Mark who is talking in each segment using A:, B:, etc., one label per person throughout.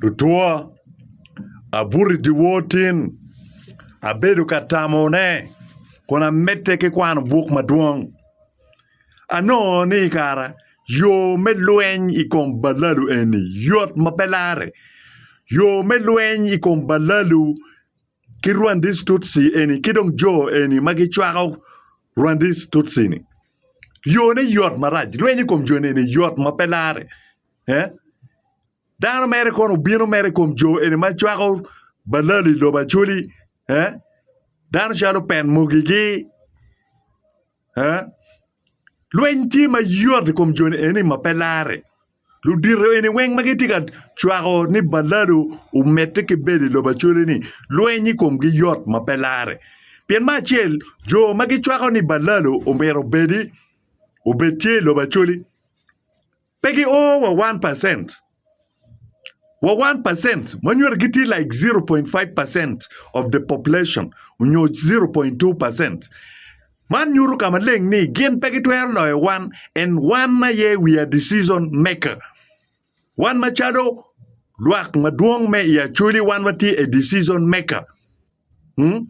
A: Lutwa, abuto i dyewor tin, abedo ka tamone kun amedde ki kwano buk madwong. Anongo ni i kara yo me lweny i kom balalu eni yot ma pe larre. Yo me lweny i kom balalu ki Rwandese Tutsi eni ki dong jo eni ma gicwako Rwandese Tutsi-ni yone yot marac. Lweny i kom joni eni yot ma pe larre. Eh? Dano mere kono obino mere i kom jo eni ma cwako balali i lobo acoli. Eh? Dano calo pen mogigi. Eh? Lweny tye mayot i kom joni eni ma pe lare. Ludito eni weng ma gitye ka cwako ni balalu omedde ki bedo i lobo acoli-ni, lweny i komgi yot ma pe lare. Pien ma acel, jo ma gicwako ni balalu omyero obedi obed tye i lobo acoli. Pe gi o wa one percent. Wa one percent ma nyuto gi tye like zero point five percent of the population onyo zero point two percent. Man nyuto ka maleng ni gin pe gi twero loyo wan and wan aye we are decision maker. Wan ma calo lwak madwong me i Acholi wan wa tye a decision maker. Hmm?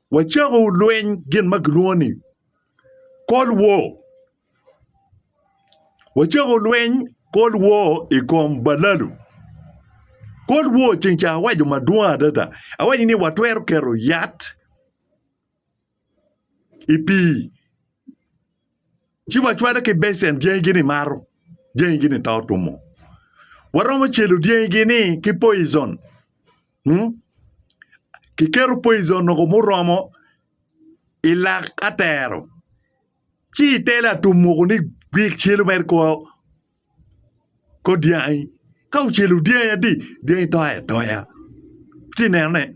A: Wacako lweny gin ma kilwongo ni Cold War. Wacako lweny Cold War i kom balalu. Cold War ceng ca awaco madwong adada. Awaco ni watwero keto yat i pii. ci wacwalo ki becen dyangigini mato, dyangigini to tumo. Waromo celo dyangigini ki poison. Hmm? Kiketo poison noko muromo i lak atero. Ci itelo atum moko ni gwik celo mere kor kor dyangi. Ka ocelo dyangi adi, dyangi to atoya. Ci nene.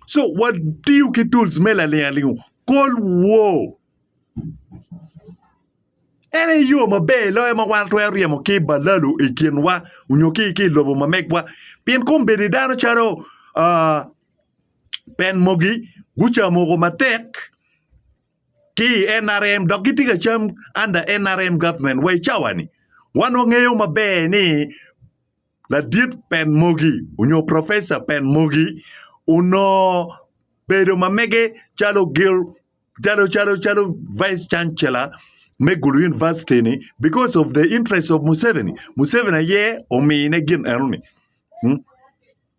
A: So watiyo ki tools me laling aling kol woo. En aye yo maber loyo ma wan twero ryemo ki balalo i kinwa onyo ki ki lobo ma megwa. Pien kombeddi dano calo uh, pen mogi gucamo ko matek ki i NRM dok gitye ka cam under NRM government wa i cawani. Wan wangeyo maber ni ladit pen mogi onyo professor pen mogi onongo bedo ma mege calo gil calo calo calo vice chancellor me Gulu University ni because of the interest of Museveni, Museveni aye omine gin enoni.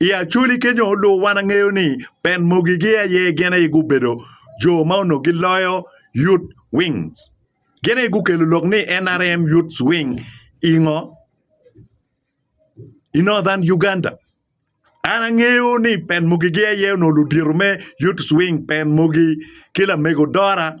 A: I Acholi kenyo, lubo wan angeyo ni band mogi giye aye gin aye gubedo jo ma onongo giloyo Youth Wings. Gin aye gukelo lok ni NRM Youth Wing i ngo? I Northern Uganda. An angeyo ni band mogi giye aye onongo ludito me Youth Wing, band mogi ki lamego Dora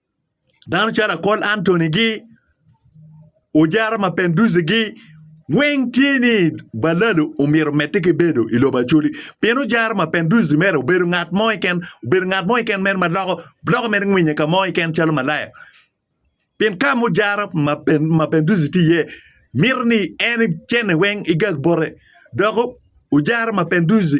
A: Dano calo akol Antony gi ojara ma penduzi gi weng tye ni balalo omyero omedde ki bedo i lobo Acholi pien ojara ma penduzi mere obedo ngat mo keken obedo ngat mo keken mere ma loko loko mere ngwinye ka mo keken calo malaya pien ka ma ojara ma penduzi tye iye mito ni en icene weng igag bote dok ojara ma penduzi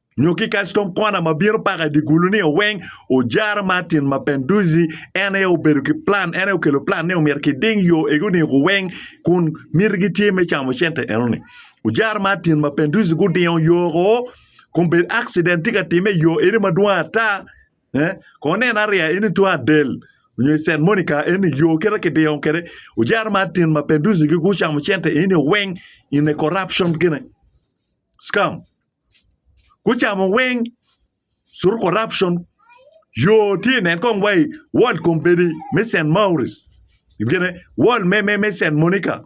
A: Nyo kikac tong kona ma bino paka i dye gulu ni oweng ojara Martin ma Penduzzi en aye obedo ki plan, en aye okelo plan ni omyero kiding yo egi oding ku weng kun mitigi tye me camo cente enoni. Ojara Martin ma Penduzzi gudingo yo ko kun bed accident tye ka time iyo eni madwong ata eh, ko nen ariya eni tung adel onyo i Saint Monica eni yo kite kidingo kede ojara Martin ma Penduzzi gi gucamo cente eni oweng in a corruption gine scam. gucamo weng curu corruption yo tye i nge kong wa i wod kombeddi me Cent Mauric gine wod me Cent Monica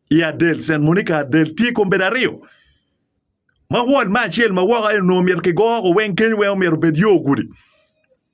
A: i Adel Cent Monica Adel tye kombeddi aryo ma wod me acel ma woko en onongo myero kigo woko weng kenyo weng omyero obed yo gudi.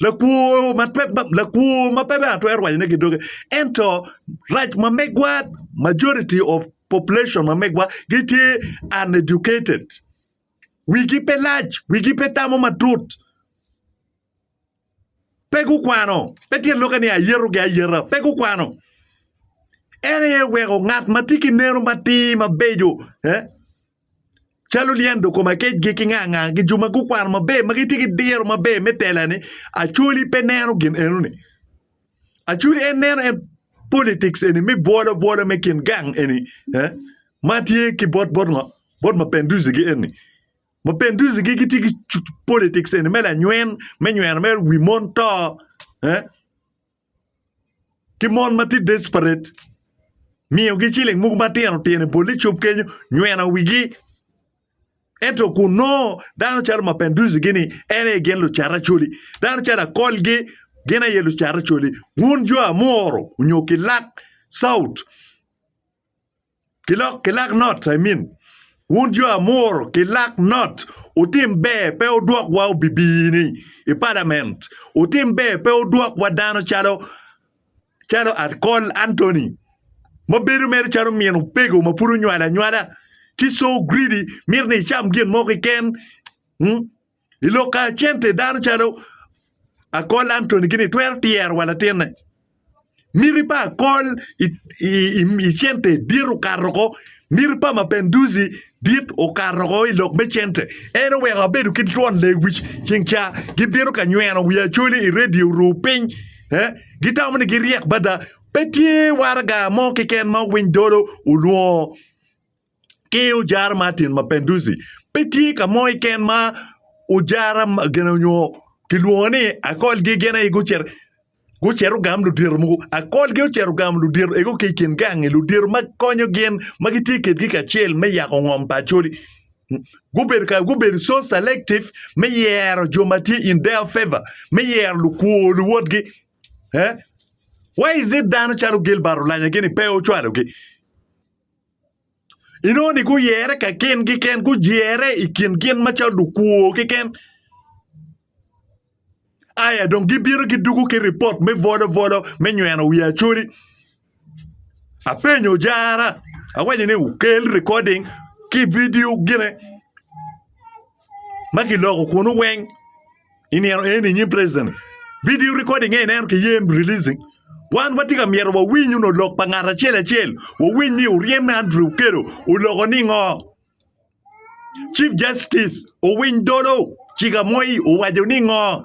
A: Lakwo ma pe lakwo ma pe bene atwero wacone ki doge ento rac ma megwa majority of population ma megwa gitye uneducated wigi pe lac wigi pe tamo matut pe gukwano pe tye lwaki ni ayeto gi ayeta pe gukwano en aye weko ngat ma tye ki neno matir mabeco. calo lyen doko ma kecgi ki nga nga gi jo ma gukwano maber ma gitye ki diro maber me telane acoli pe neno gin enoni acoli en neno en politics eni me bwolo bwola me kin gang eni eh? ma tye ki bot bot ngo bot mapenduzigi eni mapenduzigi gitye ki cu- politics eni me lanywen me nyweno me wi mon to eh? ki mon ma tye desperate miyogi ciling mogo matino tino i bol icup kenyo nyweno wigi ento kun nongo dano calo mapenduzi gini en aye gin lucat acoli dano calo akolgi gin aye lucat acoli wun jo amoro onyo kilak caut Kilok, kilak not, I mean. Wun jo amuru, kilak not. Wutim ber pe wudwokwa obibini i palament. Wutim ber pe wudwokwa dano calo calo Akol Anthony ma bedo mere calo min opego ma pud onywalo anywala. She's so greedy, mito ni icam gin mo keken. Hmm? I lok kacente dano calo akol Antony gini twero tyero wa latinne. Miti pa akol i, i, i, i cente dit okato ko. Miti pa mapenduzi dit okato ko i lok me cente. En oweko abedo ki twon lewic ceng ca gibino ka nyweno wi acoli i redio ru piny. Eh, gitamo ni giryek bada. Pe tye waraga mo kiken ma owiny dolo olwongo ki ojara Martin Mapinduzi, pe tye ka mo keken ma ojara gin onyo kilwongo ni akolgi gin aye gucito gucito gamo ludito mogo akolgi ocito gamo ludito eko ki i kin gangi ludito ma konyo gin ma gitye kwedgi kacel me yako ngom pa Acholi gubedo ka gubedo so selective me yero jo ma tye in their favour me yero lukwo luwotgi why is it dano calo Gilbert Olanya gini pe ocwalogi? inongo ni guyere ka gin keken gujere i kin gin macalo dukwo keken aya dong gibino gidugo ki ripot me volovolo me nyweno wi acoli apenyo jara awaco ni wukel recording ki video gine ma giloko kwonu weng i nino eni i nyim president-ni. Video recording en ineno kiye releasing. Wan watye ka myero wawiny nyo lok pa ngat acel acel, wawiny ni oryem me Andrew Okello oloko ningo. Chief Justice Owiny Dollo Chigamoy owaco ningo?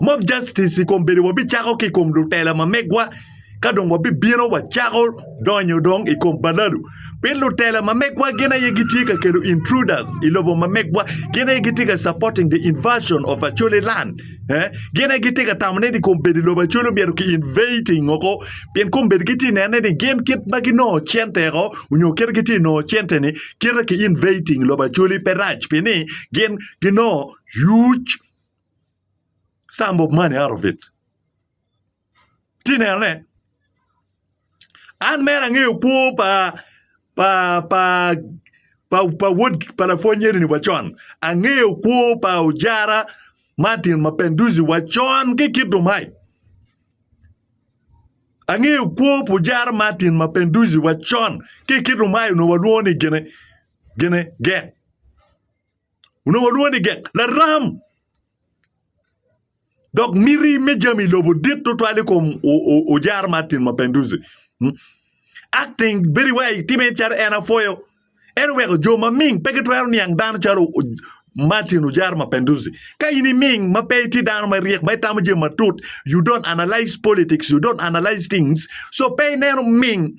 A: Mob justice i kom bedo wabicako ki i kom lutela ma megwa ka dong wabibino wacako donyo dong i kom balalu. Pien lutela ma megwa gin aye gitye ka kelo intruders i lobo ma megwa, gin aye gitye ka supporting the invasion of Acholi land. Eh? Gin aye gitye ka tamo ni kom bedo i lobo Acholi omyero ki invading oko pien kom bedo gitye ka nene ni gin kit ma ginongo cente oko onyo kit gitye ka nongo cente-ni kite ki invading lobo Acholi pe rac pien ni gin ginongo huge Some of money out of it. Ti nenone. An mera angeyo kwo pa pa pa pa pa wod pa lapwonyeni wa con. Angeyo kwo pa ojara Martin Mapenduzi wa con ki kido mai. Angeyo kwo pa ojara Martin Mapenduzi wa con ki kido mai onongo walwongo ni gine gine get. onongo olwonge ni gek, laram. Dok miti me jami lobo dit tutwal i kom Ojar Martin Mapinduzi. Hmm? Acting bedi wai time calo en apwoyo. En oweko jo maming pe gitwero niang dano calo Martin Ojar Mapinduzi. Ka in iming ma pe iti dano ma ryek ma itamo jami matut, you don't analyze politics, you don't analyze things. So pe ineno ming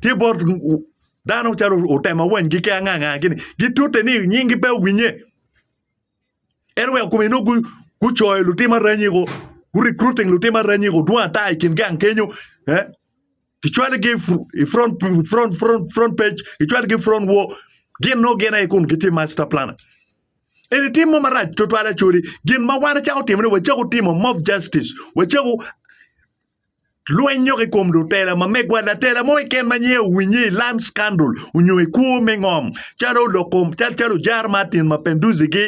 A: Tye bot dano calo otema wanygi ki anganga gini gitute ni nyingi pe owinye en oweko kome nongo gu gucoyo lutim aranyi ko gu recruiting lutim aranyi ko dwong ata i kin gang kenyo eh kicwalogi i front front front front page kicwalogi i front wall gin nongo gin aye kun gitye master planner eni tim mo marac tutwal actually gin ma wan ecako timone wacako timo mob justice wacako Lwenyo ki kom lutela ma megwa, Latela mo keken ma nyinge owinye i Land Scandal onyo i kwo me ngom, calo olok kom, cal calo Jar Martin ma Penduzi gi,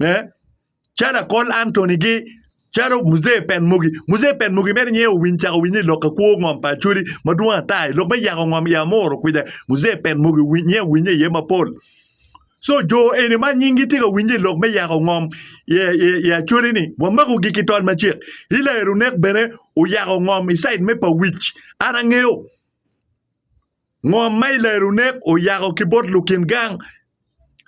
A: eh, calo Akol Anthony gi, calo Muzee Pen Mugi. Muzee Pen Mugi mere nyinge owiny cako owinye i lok kwo ngom pa Acholi madwong ata i lok me yako ngom i Amuru kwija. Muzee Pen Mugi owiny nyinge owinye iye mapol. Co jo eni ma nyingi tye ka winye i lok me yako ngom i Acholi-ni, wamakogi ki tol macek. Hilael Onek bene oyako ngom i caid me Pawic. An angeyo ngom ma Hilael Onek oyako ki bot lukin gang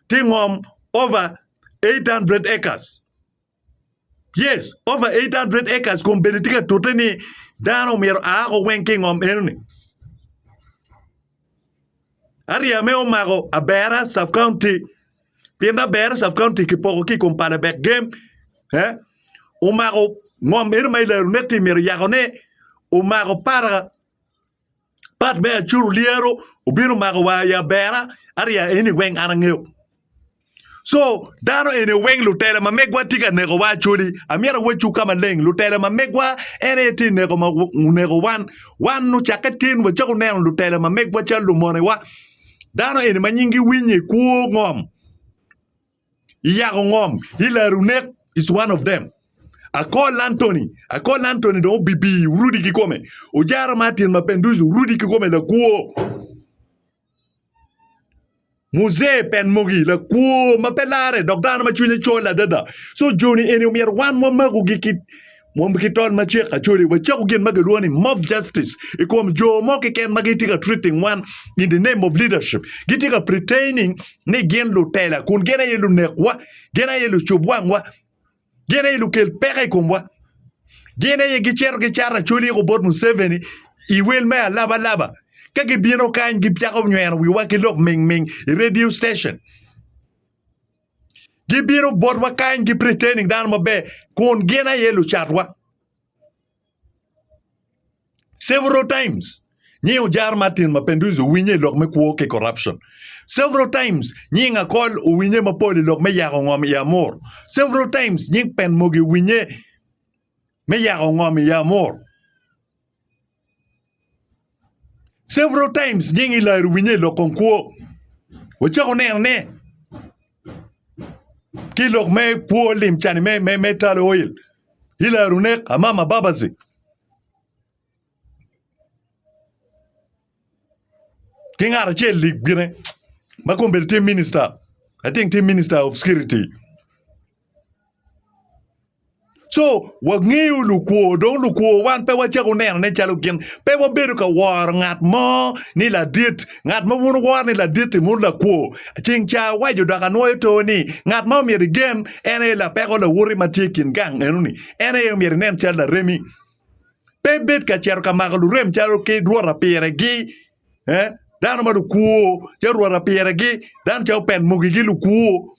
A: tye ngom over 800 acres. Yes, over 800 acres kun bene tye ka tute ni dano myero aa ko weng ki i ngom enoni. Aryeme omako Abera sub county pien Abera sub county kipoko ki i kom pala bek gem eh, omako ngom eno ma i Larunet-ti myero yakone omako para Pat me Acur olyero obino omako war i abera arya eni weng an angeyo. Co dano eni weng lutela ma megwa tye ka nekowa actually amyero awacwu ka maleng lutela ma megwa en aye tye ka neko ma oneko wan wan ocakke tin wacako neno lutela ma megwa calo lumonewa dano eni ma nyingi Winyi kwo ngom iyako ngom, ilaro nek is one of them. Akol Anthony, Akol Anthony dong obibi orudi ki kome. Ojara Martin Mapenduzi orudi ki kome lakwo. Muzee Penmogi lakwo ma pe lare dok dano ma cwinye col adada. So joni eni omyero wan wamakogi ki Mwom ki tol ma cek acoli wa cako gin ma gilwongo ni mob justice i kom jo mo kiken ma gitye ka treating wan in the name of leadership. Gitye ka pretaining ni gin lutela kun gin aye lunekwa, gin aye lucub wangwa, gin aye lukel peko i komwa. Gin aye gicito gicato acoli iko bot Museveni i wel me alabalaba. Ka gibino kany gicako nyweno wiwa ki lok mingming i radio station. Gibino botwa kany ki pretending dano maber kun gin aye lucatwa. Several times nying ojar Martin Mapinduzi owinye i lok me kwo ki corruption. Several times nying Akol owinye mapol i lok me yako ngom i Amur. Several times nying Penmogi owinye me yako ngom i Amur. Several times nying Ilayo winye i lok kong kwo. Wacako neno ne ki lok me kwo lim cani me me me talo oil. Ilayo runek amama babazi. Ki ngat acel lig gine ma kong bedo tye minister. I think tye minister of security. Co, wangeyo lukwo, dong lukwo wan pe wacako nenone calo gin. Pe wabedo ka woro ngat mo ni ladit. Ngat ma wun wuworo ni ladit-ti mono lakwo. Ceng ca awaco dok anwoyo too ni, ngat ma omyero igen en aye lapeko lawote ma tye i kin gang eno-ni. En aye omyero inen calo laremi. Pe ibed ka cito ka mako lurem calo ki rwota piregi. Eh, dano ma lukwo, calo rwota piregi, dano calo open mogigi lukwo.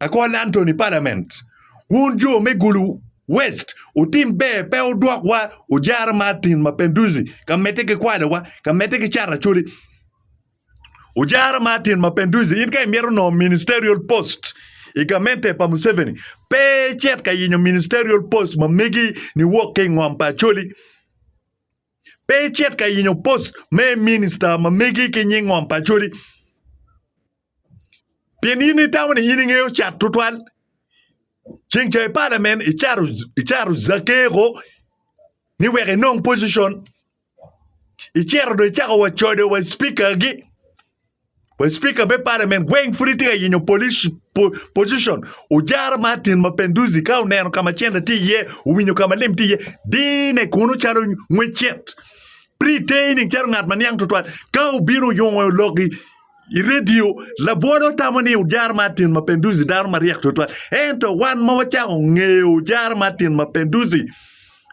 A: Akol Anthony Parliament wun jo me Gulu West wutim ber pe wudwok wa Ojara Martin Mapenduzi ka medde ki kwalo wa ka medde ki cato acholi Ojara Martin Mapenduzi in ka imito nongo ministerial post i gamente pa Museveni pe icit ka yenyo ministerial post ma megi ni wok ki ingom pa acholi pe icit ka yenyo post me minister ma megi ki nying ngom pa acholi Pien in itamo ni in ingeyo cat tutwal. Ceng ca i parliament icato icato zakeko ni wek inong position. Icito do icako wa codo wa speaker gi. Wa speaker me parliament weng pud itye ka yenyo police po, position. Ojara Martin Mapenduzi ka oneno kama cente tye iye, owinyo kama lim tye iye, dine kuno calo ngwecet. Pretaining calo ngat ma niang tutwal. Ka obino oyungo logi I redio, labwota otamo ni Ojara Martin Mapinduzi dano maryek tutwal. Ento wan ma wacako ngeyo Ojara Martin Mapinduzi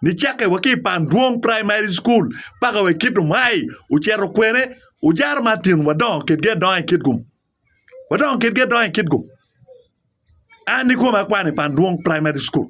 A: nicakke wa ki i Pandwong Primary School paka wa i Kitum High ocito kwene, Ojara Martin wadongo kitgi adonga i kitgum. Wadongo kitgi adonga i kitgum. An ikome akwano i Pandwong Primary School.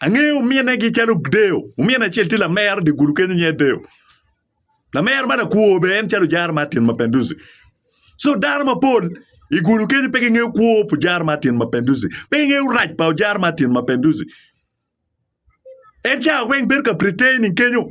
A: Angeyo ominegi calo deyo. Omin acel tye lamero dye gulu kenyo nyinge deyo. Lamero ma lakwo bene en calo Ojara Martin Mapenduzi. So dano mapol i gulu kenyo pe gingeyo kwo pa Ojara Martin Mapenduzi. Pe gingeyo rac pa Ojara Martin Mapenduzi. En cawa weng bedo ka pretending kenyo.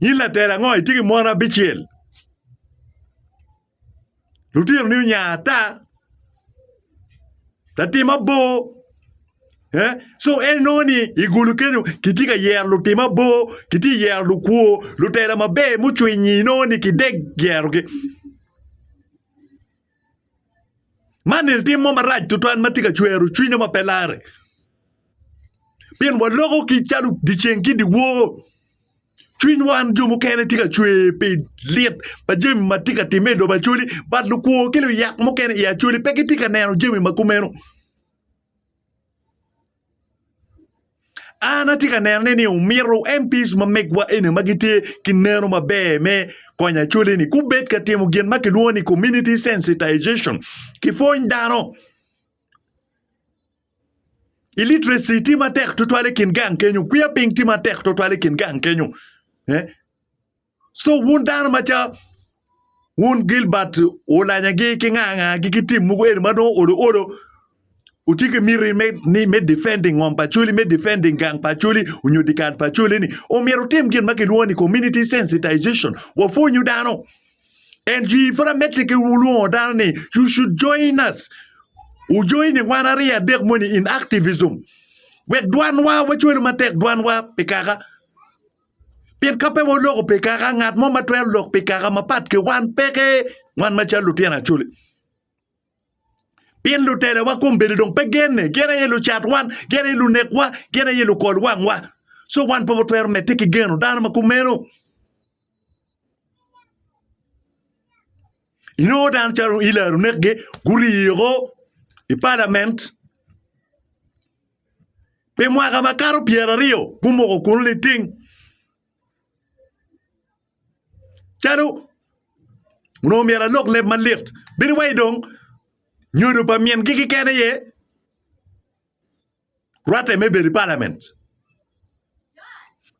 A: In latel ango? Itye ki mon abicel. Lutinoni onya ata. Latim abor. Eh? So en nongo ni i gulu kenyo kitye ka yero lutim abor, kitye ka yero lukwo, lutela maber mucwinyi nongo ni kidek yerogi. Man eni timo marac tutwal ma tye ka cwero cwinywa ma pe larre pien waloko ki calo dyeceng ki dyewor cwiny wan jo mukene tye ka cwer pi lit pa jami ma tye ka timme i lobo Acholi but lukwo ki luyak mukene i Acholi pe gitye ka neno jami ma kumeno. An atye ka neno ni omyero MPs ma megwa eni ma gitye ki neno maber me konyo Acholi-ni gubed ka timo gin ma kilwongo ni community sensitization. Kipwony dano. Illiteracy tye matek tutwal i kin gang kenyo, kwiya piny tye matek tutwal i kin gang kenyo. Eh? So wun dano ma ca wun Gilbert olanyagi ki nga nga gi ki tim mogo eni ma dong olo olo utye ki miti me ni me defending ngom pa Acholi me defending gang pa Acholi onyo dikal pa Acholi ni omyero utim gin ma kilwongo ni community sensitization wapwonyu dano and you informatically wulwongo dano ni you should join us u join ni wan aryo adek moni in activism wek dwanwa wacwelu matek dwanwa pi kaka Pien ka pe waloko pi kaka, ngat mo ma twero lok pi kaka mapat ki wan peke, wan macalo lutino acholi. Pien lutelawa kombeddi dong pe genne, gin aye lucat wan, gin aye lunekwa, gin aye lukol wangwa. So wan pe watwero medde ki geno dano ma kumeno. Inongo dano calo Hillary onekgi, guriyo i palament. Pi mwaka makato pyeraryo gumoko kunu niting calo onongo myero alok leb malit. Bedo wai dong nyodo pa min gi keken aye rwate me bedo i parliament.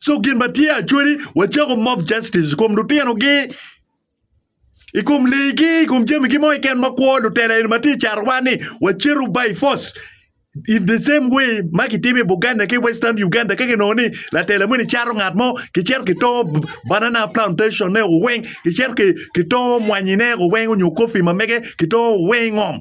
A: So gin matye actually wacako mob justice kom lutino gi. i kom leegi, i kom jamigi mo keken ma kwo lutela eni ma tye i carwa ni wacito by force. In the same way ma kitimo i Buganda ki Western Uganda ka kinongo ni latela moni cato ngat mo kicito kitongo b- banana plantation ne weng kicito ki- kitongo mwanyine weng onyo kofi ma mege kitongo weng ngom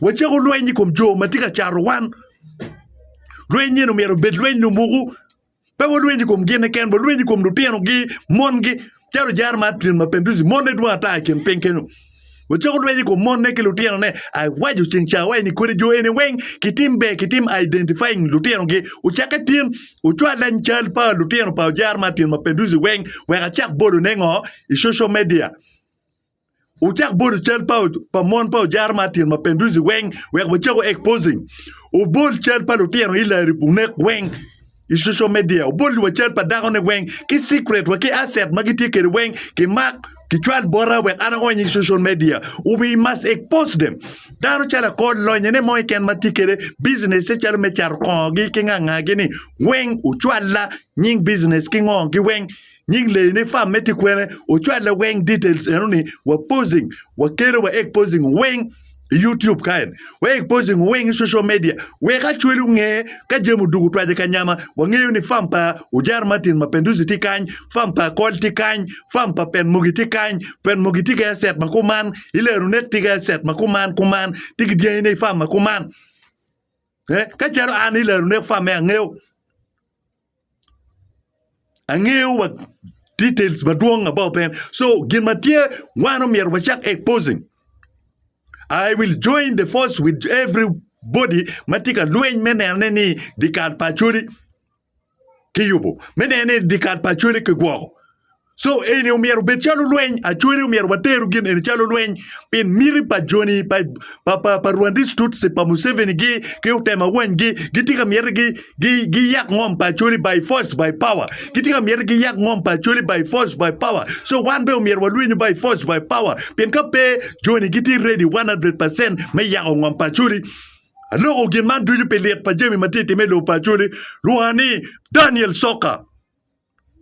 A: Wacako lweny i kom jo ma tye ka caro wan. Lweny nyen omyero obed lweny lumuku. Pe walweny i kom gine ken, walweny i kom lutinogi, mongi. Calo jar ma atrin ma Penduzi, monne dwong ata i kin piny kenyo. Wacako lweny i kom monne ki lutinone. Ai, waco ceng cawa eni kodi jo eni weng kitim ber, kitim identifying lutinogi. Ocakke tin, ocwal lany cal pa lutino pa jar ma atrin ma Penduzi weng wek acak bolone ngo i social media. Wucak bolo cal pa, pa mon pa ojara ma atin ma Penduzi weng wek wacako exposing. Wubol cal pa lutino Hillary Bunek weng i social media. Wubol wa cal pa dako ne weng ki secret wa ki asset ma gitye kede weng ki mak ki cwal bota wek an aony i social media. We must expose them. Dano calo akor lonye ne mo iken ma tye kede business se calo me cato kongo gi ki ngangagi ni weng ucwalla nying business ki ngo gi weng Nying leyi ne farm me tye kwene ocwalle weng details eno ni wa posing wa kelo wa ek posing weng i YouTube kaen wa ek posing weng i social media wek acwali onge ka jami odugu twaje ka nyama wa ngeyo ni farm pa Ojar Martin ma Penduzi tye kany farm pa Akol tye kany farm pa Pen Mogi tye kany Pen Mogi tye ki asset ma kuman ilero net tye ki asset ma kuman kuman tye ki dyangi ne i farm ma kuman eh ka calo an ilero net farm me angeyo angeyo wa details madwong about them so gin ma tye wan omyero wacak exposing I will join the force with everybody ma tye ka lweny me nenone ni dikal pa Acholi kiyubo me neno ni dikal pa Acholi kigwoko Co eni omyero obed calo lweny, acwali omyero wateru gin eni calo lweny pi miti pa joni pa pa pa, pa Rwandese Tutsi pa Museveni gi ki otema wanygi gitye ka myete gi gi giyak ngom pa acwali by force by power gitye ka myete giyak ngom pa acwali by force by power so wan be omyero walwenyu by force by power pien ka pe joni gitye ready 100% me yako ngom pa acwali aloko gin man ducu pi lit pa jami ma tye ka timme i lobo pa acwali lwonga ni Daniel Soka.